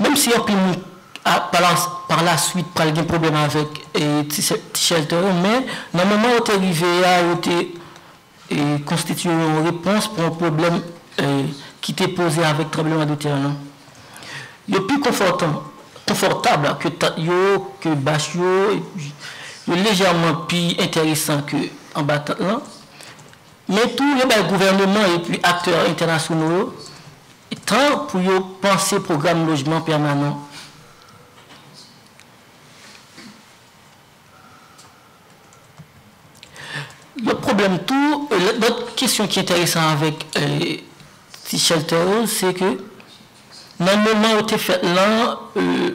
Menm si anpil moun par la suite pral gen pwoblèm avèk ti chèltè yo, men nan moman yo te rive a yo te konstitiye yon repons pou yon pwoblèm ki te poze avèk tranbleman de tè a nan. Yo pi konfòtab ke tant yo, ke bach yo, epi yo lejèman pi entèresan ke anba tant lan, men tou yo bay gouvèneman epi aktè entènasyono yo, Tan pou yo panse pwogram lojman pèmanan. Lòt pwoblèm tou, lòt kesyon ki enteresan avèk ti chèltè yo, se ke nan moman yo te fèt lan,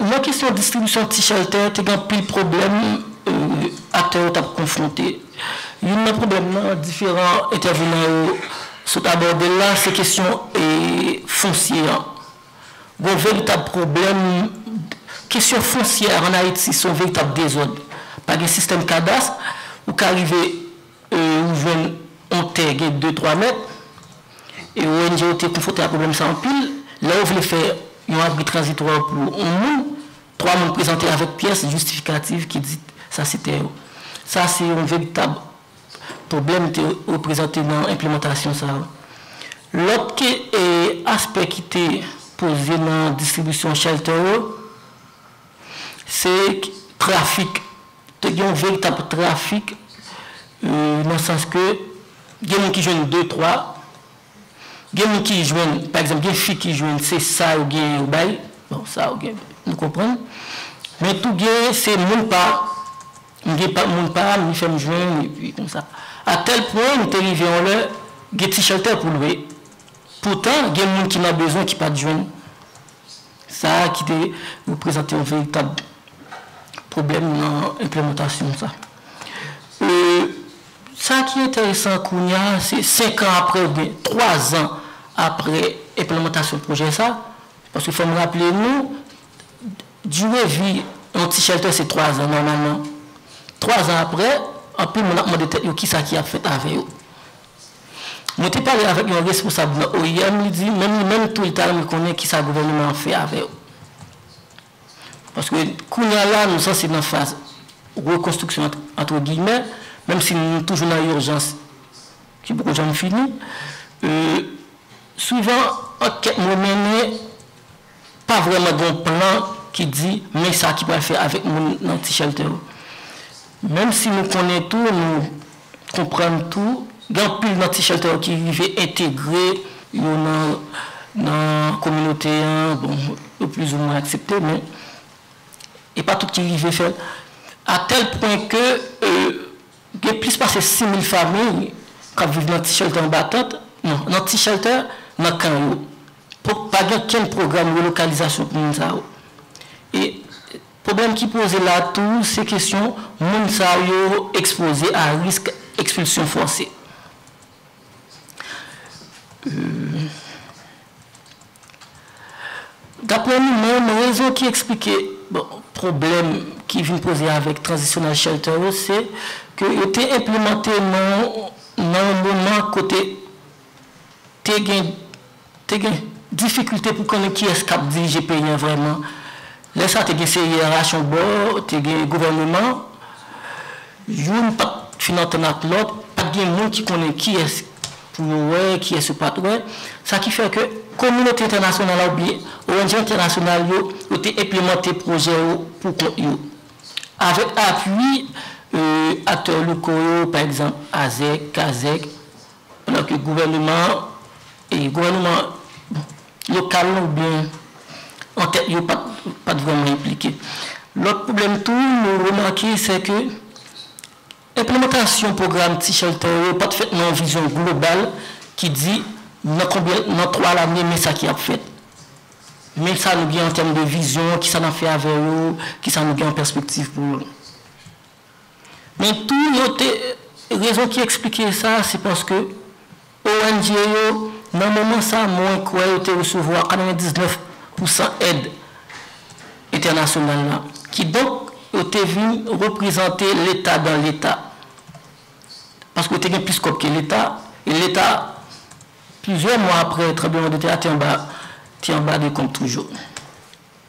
Nan kesyon distribisyon ti chèltè, te gen anpil pwoblèm aktè yo t ap konfwonte. Youn nan pwoblèm nan, diferan entèvenan yo sot abòde l la, se kesyon fonsye an. Gen yon veritab pwoblèm, kesyon fonsye a ann Ayiti se yon veritab dezòd. Pa gen sistèm kadas, ou ka rive. Ou jwenn yon tè gen de twa mèt, e ong yo te konfwonte ak pwoblèm sa anpil. Lè yo vle fè yon abri tranzitwa pou yon moun, twa moun prezante avèk pyès jistifikatif ki di sa se tè yo. Sa se yon veritab pwoblèm te reprezante nan enplemantasyon sa yo. Lòt aspè ki te poze nan distribisyon shelter yo, se trafik. Te gen yon veritab trafik nan sans ke gen moun ki jwenn de twa, gen moun ki jwenn, pa egzanp gen fi ki jwenn se sa yo genyen yo bay, bon sa yo gen nou konprann, men tou gen se moun pa, m gen pa moun pa m li fè m jwenn epi konsa. A tèl pwen m te rive yon lè gen ti chèltè pou lwe, poutan gen moun ki nan bezwen ki pa t jwenn. Sa a ki te reprezante yon veritab pwoblèm nan enplemantasyon sa. Sa ki enteresan kounye a, se senkan apre ou byen twazan apre enplemantasyon pwojè sa, paske fò m raple nou, dire vi yon ti chèltè se twazan nòmalman. Twazan apre, anpil moun ap mande tèt yo kisa ki ap fèt avè yo. Mwen te pale avèk yon responsab nan oim, li di menm li menm tou li ta renmen konnen kisa gouvèneman an fè avè yo. Paske kounya la nou sanse nan faz rekonstriksyon ant antre giyimè, menm si nou toujou nan urjans ki poko janm fini. Souvan ankèt mwen mennen Pa vrèman gen yon plan ki di men sa ki pral fè avèk moun nan ti chèltè yo. Menm si nou konnen tou, nou konprann tou, gen anpil nan ti chèltè yo ki rive entegre yo nan kominote an, bon, yo plizoumwen aksepte men e pa tout ki rive fè l. A tèl pwen ke gen plis pase 6,000 famiy k ap viv nan ti chèltè anba tant, non, nan ti chèltè nan kan yo. Donk pa gen okenn pwogram relokalizasyon pou moun sa yo. E pwoblèm ki poze la tou se kesyon moun sa yo ekspoze a risk ekspilsyon fòse. Daprè nou menm, rezon ki eksplike pwoblèm ki vin poze avèk transisyonal shelter yo se ke yo te enplemante nan yon moman kote te gen te gen difikilte pou konnen kiyès k ap dirije peyi an vrèman. Lè sa te gen seyerasyon bò, te gen gouvèneman, youn pa t fin antann ak lòt, pa t gen moun ki konnen kiyès pou yo wè, kiyès yo pa t wè. Sa ki fè ke kominote entènasyonal la oubyen ong entènasyonal yo, yo te enplemante pwojè yo pou kont yo. Avèk apui aktè loko yo, pa egzanp, Azèk, Kazèk, Pandan ke gouvèneman an, gouvèneman lokal lan oubyen an tèt yo pat vrèman enplike. Lòt pwoblèm tou nou remake se ke enplemantasyon pwogram ti chèltè yo pat fèt nan yon vizyon global ki di nan konbyen, nan 3 lane men sa ki ap fèt. Men sa nou gen an tèm de vizyon, kisa n ap fè avè yo, kisa nou gen an pèspektiv pou yo. Men tou yo te rezon ki eksplike sa se paske ong yo nan moman sa mwen kwè yo te resevwa 99 pousan èd entènasyonal la kidonk yo te vin reprezante leta dan leta paske yo te gen plis kòb ke leta e leta plizyè mwa aprè tranbleman de tè a te anba te anba de kont toujou.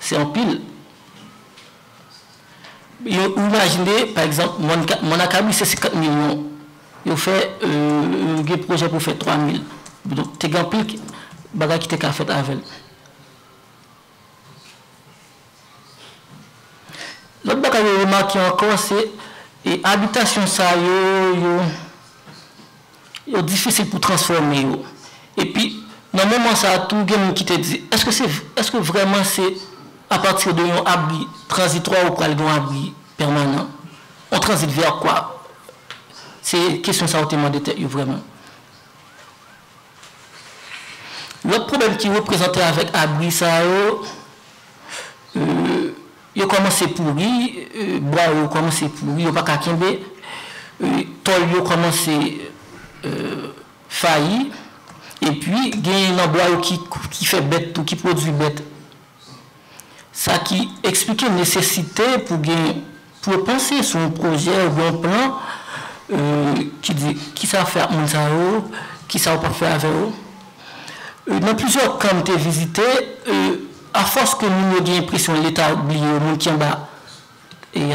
Se anpil. Yo ou imajine pa egzanp mòn mòn akabou se 50 milyon yo fè yo gen pwojè pou fè 3 mil donk te gen anpil bagay ki te ka fèt avè l. Lòt bagay yo remake ankò se abitasyon sa yo yo Yo difisil pou transfòme yo. Epi, nan moman sa a tou, gen moun ki te di, èske se, èske vrèman se apati de yon abri tranzitwa ou pral gen yon abri pèmanan? On transit vers quoi? Se kesyon sa yo te mande tèt yo vrèman. Lòt pwoblèm ki reprezante avèk abri sa yo, Yo kòmanse pouri, bwa yo kòmanse pouri, yo pa ka kenbe, tòl yo kòmanse fayi, epi genyen nan bwa yo ki fè bèt tou, ki pwodui bèt. Sa ki eksplike nesesite pou gen, pou yo panse sou yon pwojè oubyen yon plan ki di kisa yo fè ak moun sa yo, kisa yo pap fè avè yo. Nan plizyè kan m te vizite, A fòs ke moun yo gen enpresyon leta bliye yo, moun ki anba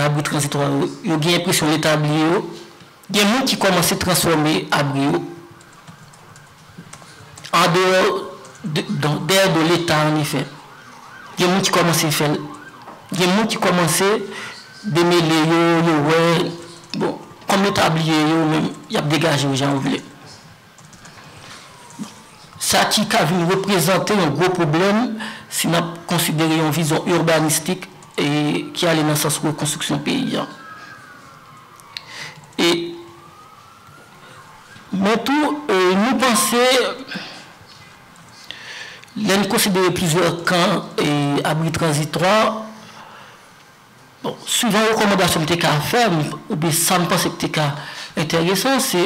abri tranzitwa yo, yo gen enpresyon leta bliye yo, gen moun ki kòmanse transfòme abri yo an deyò donk dèyè do leta an efè. Gen moun ki kòmanse fè l. Gen moun ki kòmanse demele yo, yo wè bon kòm leta bliye yo menm y ap degaje yo jan yo vle. Sa ki ka vin reprezante yon gwo pwoblèm si n ap konsidere yon vizyon urbanistik ki ale nan sans rekonstriksyon peyi an. Men tou, nou panse, lè n konsidere plizyè kan abri tranzitwa, bon, souvan rekòmandasyon m te ka fè, oubyen sa m panse ki te ka enteresan, se.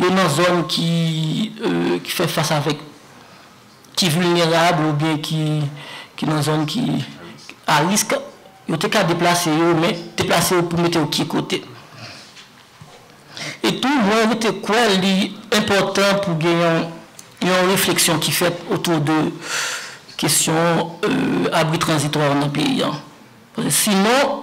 Yo nan zòn ki fè fas avèk, ki vilnerab oubyen ki nan zòn ki a risk, yo te ka deplase yo, men deplase yo pou mete yo ki kote. E tou mwen rete kwè li enpòtan pou gen yon refleksyon ki fèt otou de kesyon abri tranzitwa nan peyi an. Sinon,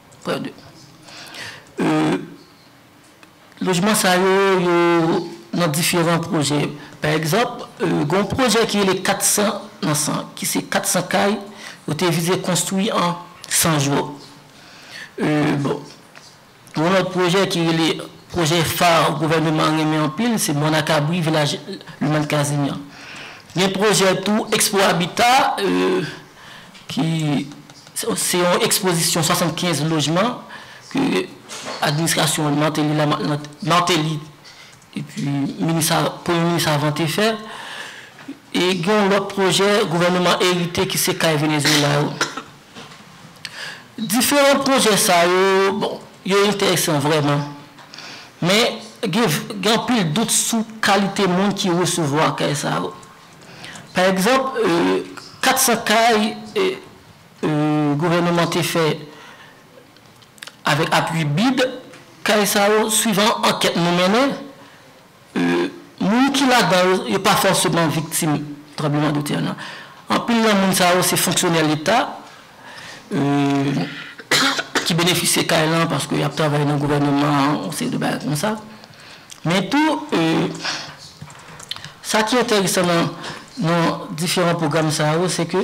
Lojman sa yo, yo nan diferan pwojè. Pa egzanp, gen yon pwojè ki rele 400 nan 100, ki se 400 kay yo te vize konstwi an 100 jou. Bon, gen yon lòt pwojè ki rele pwojè fa gouvèneman an renmen anpil, se Mònakabri, Vilaj Limàn Kazimyàn. Gen pwojè tou Expo Habitat. ki se yon ekspozisyon 75 lojman ke administrasyon Martelly la, Martelly epi minis, premye minis avan te fè, e gen yon lòt pwojè gouvèneman erite ki se kay Venezuela yo. Diferan pwojè sa yo, bon, yo enteresan vrèman, men gen anpil dout sou kalite moun ki resevwa kay sa yo. Pa egzanp, 400 kay gouvèneman te fè avèk apui bid, kay sa yo, swivan ankèt nou mennen, moun ki ladan yo, yo pa fòseman viktim tranbleman de tè nan. Anpil nan moun sa yo se fonksyonè leta ki benefisye kay lan paske y ap travay nan gouvèneman an, yon seri de bagay konsa. Men tou, sa ki enteresan nan diferan pwogram sa yo, se ke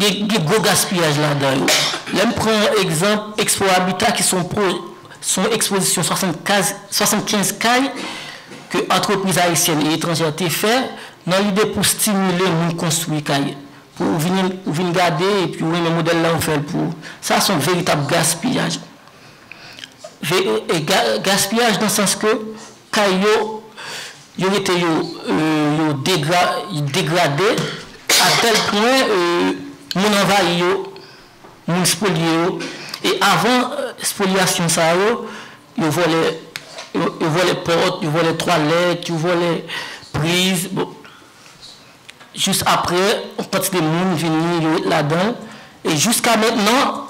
gen gwo gaspiyaj ladan yo. Lè m pran egzanp Expo Habitat ki se yon ekspozisyon 75 kay ke antrepriz ayisyèn e etranjè te fè nan lide pou stimile moun konstwi kay. Pou ou vin gade epi ou renmen modèl la ou fè l pou ou. Sa se yon veritab gaspiyaj. Gaspiyaj nan sans ke kay yo yo rete yo yo degra degrade a tèl pwen moun anvayi yo, moun spoliye yo e avan spoliyasyon sa yo, yo vòlè yo vòlè pòt, yo vòlè twalèt, yo vòlè priz bon jis aprè yon kantite moun vini yo ret ladan l e jiska mentnan.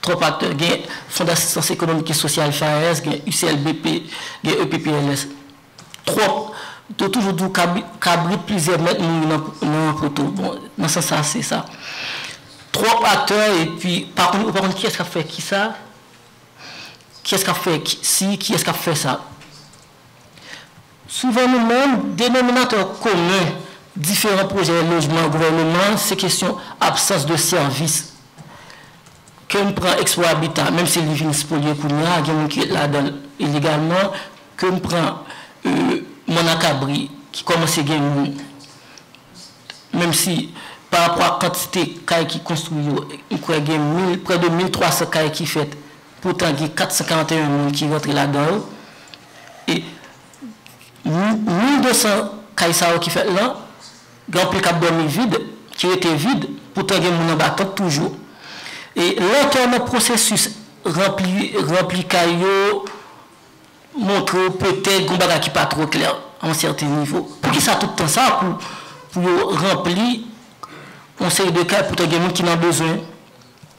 Twòp aktè gen Fond d'assistance économique et sociale, FAES, gen UCLBP, gen EPPLS. Twòp! Yo toujou di w kabrit plizyè mèt mouri nan poto. Bon, nan sans sa a se sa. Twòp aktè epi pa konn, ou pa konn kiyès k ap fè kisa, kiyès k ap fè si, kiyès k ap fè sa. Souvan nou menm, denominatè komen diferan pwojè lojman gouvèneman an se kesyon absans de sèvis ke m pran Expo Habitat, menm si li vin spoliye kounye a, gen moun ki ret ladan l ilegalman, ke m pran Mòn ak Abri ki kòmanse gen moun, menm si pa rapò ak kantite kay ki konstwi yo, m kwè gen prè de 1,300 kay ki fèt. Poutan gen 441 moun ki rantre ladan yo e nan 1200 kay sa yo ki fèt lan, gen anpil k ap dòmi vid, ki rete vid, poutan gen moun anba tant toujou. E lantè nan pwosesis ranpli kay yo montre w petèt gen yon bagay ki pa twò klè a yon sèten nivo. Poukisa tout tan sa pou yo ranpli yon seri de kay poutan gen moun ki nan bezwen?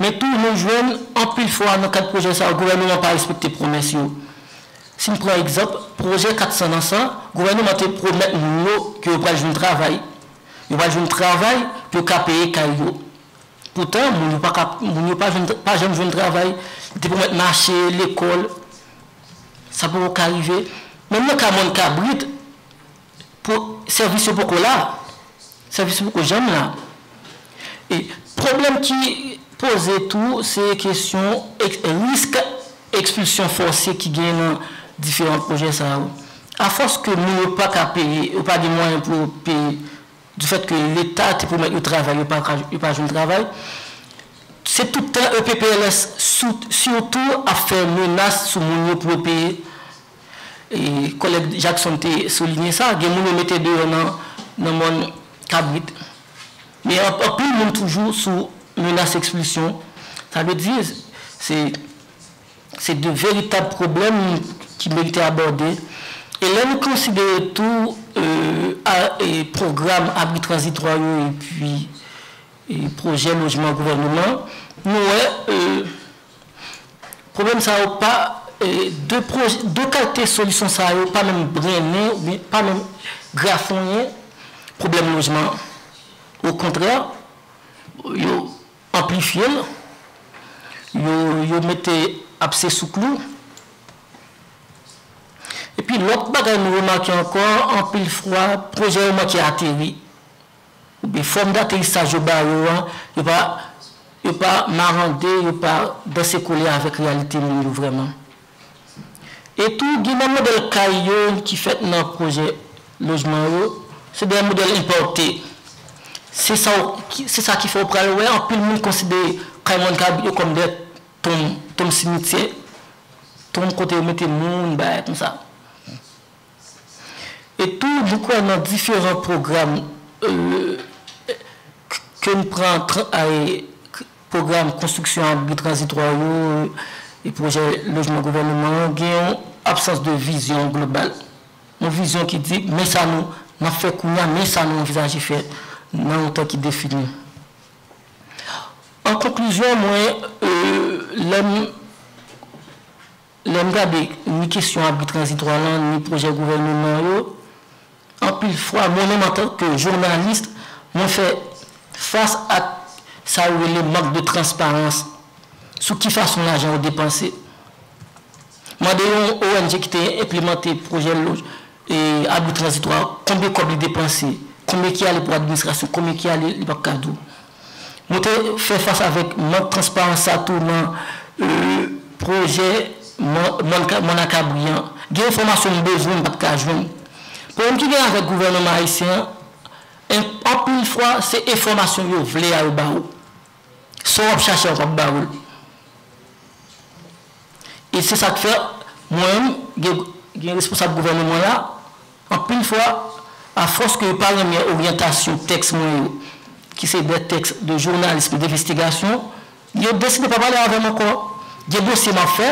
Men tou nou jwenn anpil fwa nan kad pwojè sa yo gouvèneman pa respekte pwomès yo. Si n pran egzanp pwojè 400 ans an, gouvèneman te pwomèt moun yo ke yo pral jwenn travay, yo pral jwenn travay pou yo ka peye kay yo. Poutan moun yo pa ka, moun yo pa jwenn, pa janm jwenn travay. Li te pwomèt mache, lekòl, sa poko ka rive. Menm nan ka mòn kabrit. Pou sèvis yo poko la. Sèvis yo poko janm la. E pwoblèm ki poze tou se kesyon risk ekspilsyon fòse ki genyen nan diferan pwojè sa yo. Afòs ke moun yo pa ka peye, yo pa gen mwayen pou yo peye, di fèt ke leta te pwomèt yo travay, yo pa ka, yo pa jwenn travay, se tout tan EPPLS sitou ap fè menas sou moun yo pou yo peye. Kòlèg Jackson te soulinye sa, gen moun yo mete deyò nan mòn kabrit. Men anpil moun toujou sou menas ekspilsyon. Sa vle di, se de veritab pwoblèm ki merite abòde. E lè nou konsidere tou pwogram abri tranzitwa yo epi pwojè lojman gouvèneman, nou wè Pwoblèm sa yo pa, de pwojè, de kalte solisyon sa yo pa menm brennen oubyen pa menm grafonyen pwoblèm lojman an. Okontrè, yo anplifye l, yo, yo mete abse sou klou. Epi lòt bagay nou remake ankò, anpil fwa pwojè yo manke ateri. Oubyen fòm daterisaj yo ba yo an, yo pa yo pa marande, yo pa danse kole avèk reyalite moun yo vrèman. E tou, gen nan modèl kay yo ki fèt nan pwojè lojman yo, se de modèl enpòte. Se sa w se sa ki fè ou pral wè anpil moun konsidere kay moun kab yo kòm de tonm tonm simityè, tonm kote yo mete moun, bagay konsa. E tou nou kwè nan diferan pwogram ke n pran pwogram konstriksyon abri tranzitwa yo e pwojè lojman gouvèneman an gen yon absans de vizyon global. Yon vizyon ki di men sa nou n ap fè kounye a, men sa nou anvizaje fè nan yon tan ki defini. An konklizyon mwen lè m. Lè m gade ni kesyon abri tranzitwa lan ni pwojè gouvèneman an yo, anpil fwa mwen menm antan ke jounalis mwen fè fas ak sa yo rele mank de transparans sou ki fason lajan yo depanse. Mande yon ong ki te enplemante pwojè abri tranzitwa konbyen kòb li depanse, konbyen ki ale pou administrasyon, konbyen ki ale li pap ka di w. Nou te fè fas avèk mank transparans sa tou nan pwojè Mònakabri an. Gen enfòmasyon m bezwen m pa t ka jwenn. Pwoblèm ki gen avèk gouvèneman ayisyen an, anpil fwa se enfòmasyon yo vle a yo ba ou. Sa w ap chache a yo p ap ba ou l. E se sa k fè mwen menm gen responsab gouvèneman la. Anpil fwa, afòs ke yo pa renmen oryantasyon tèks mwen yo, ki se dè tèks de journalisme et d'investigation, yo deside pa pale avè m ankò. Gen dosye m ap fè,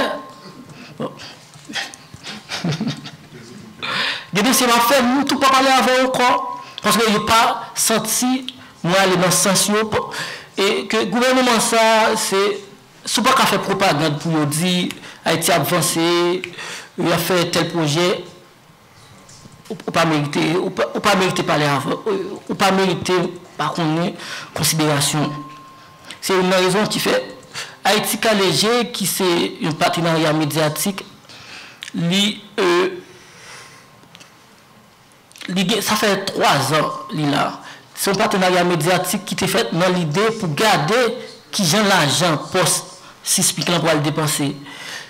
gen dosye m ap fè, m tou pa pale avè yo ankò, paske yo pa santi mwen ale nan sans yo, e ke gouvèneman sa a, se, si w pa ka fè pwopagand pou yo di Ayiti ap vanse, y ap fè tèl pwojè, Ou pa merite, ou pa merite pale avè, ou pa merite pa konnen konsiderasyon ou. Se youn nan rezon ki fè Ayiti Kale Je ki se yon patenarya medyatik li li gen sa fè 3 zan li la. Se yon patenarya medyatik ki te fèt nan lide pou gade kijan lajan pòs CISPIC lan pral depanse.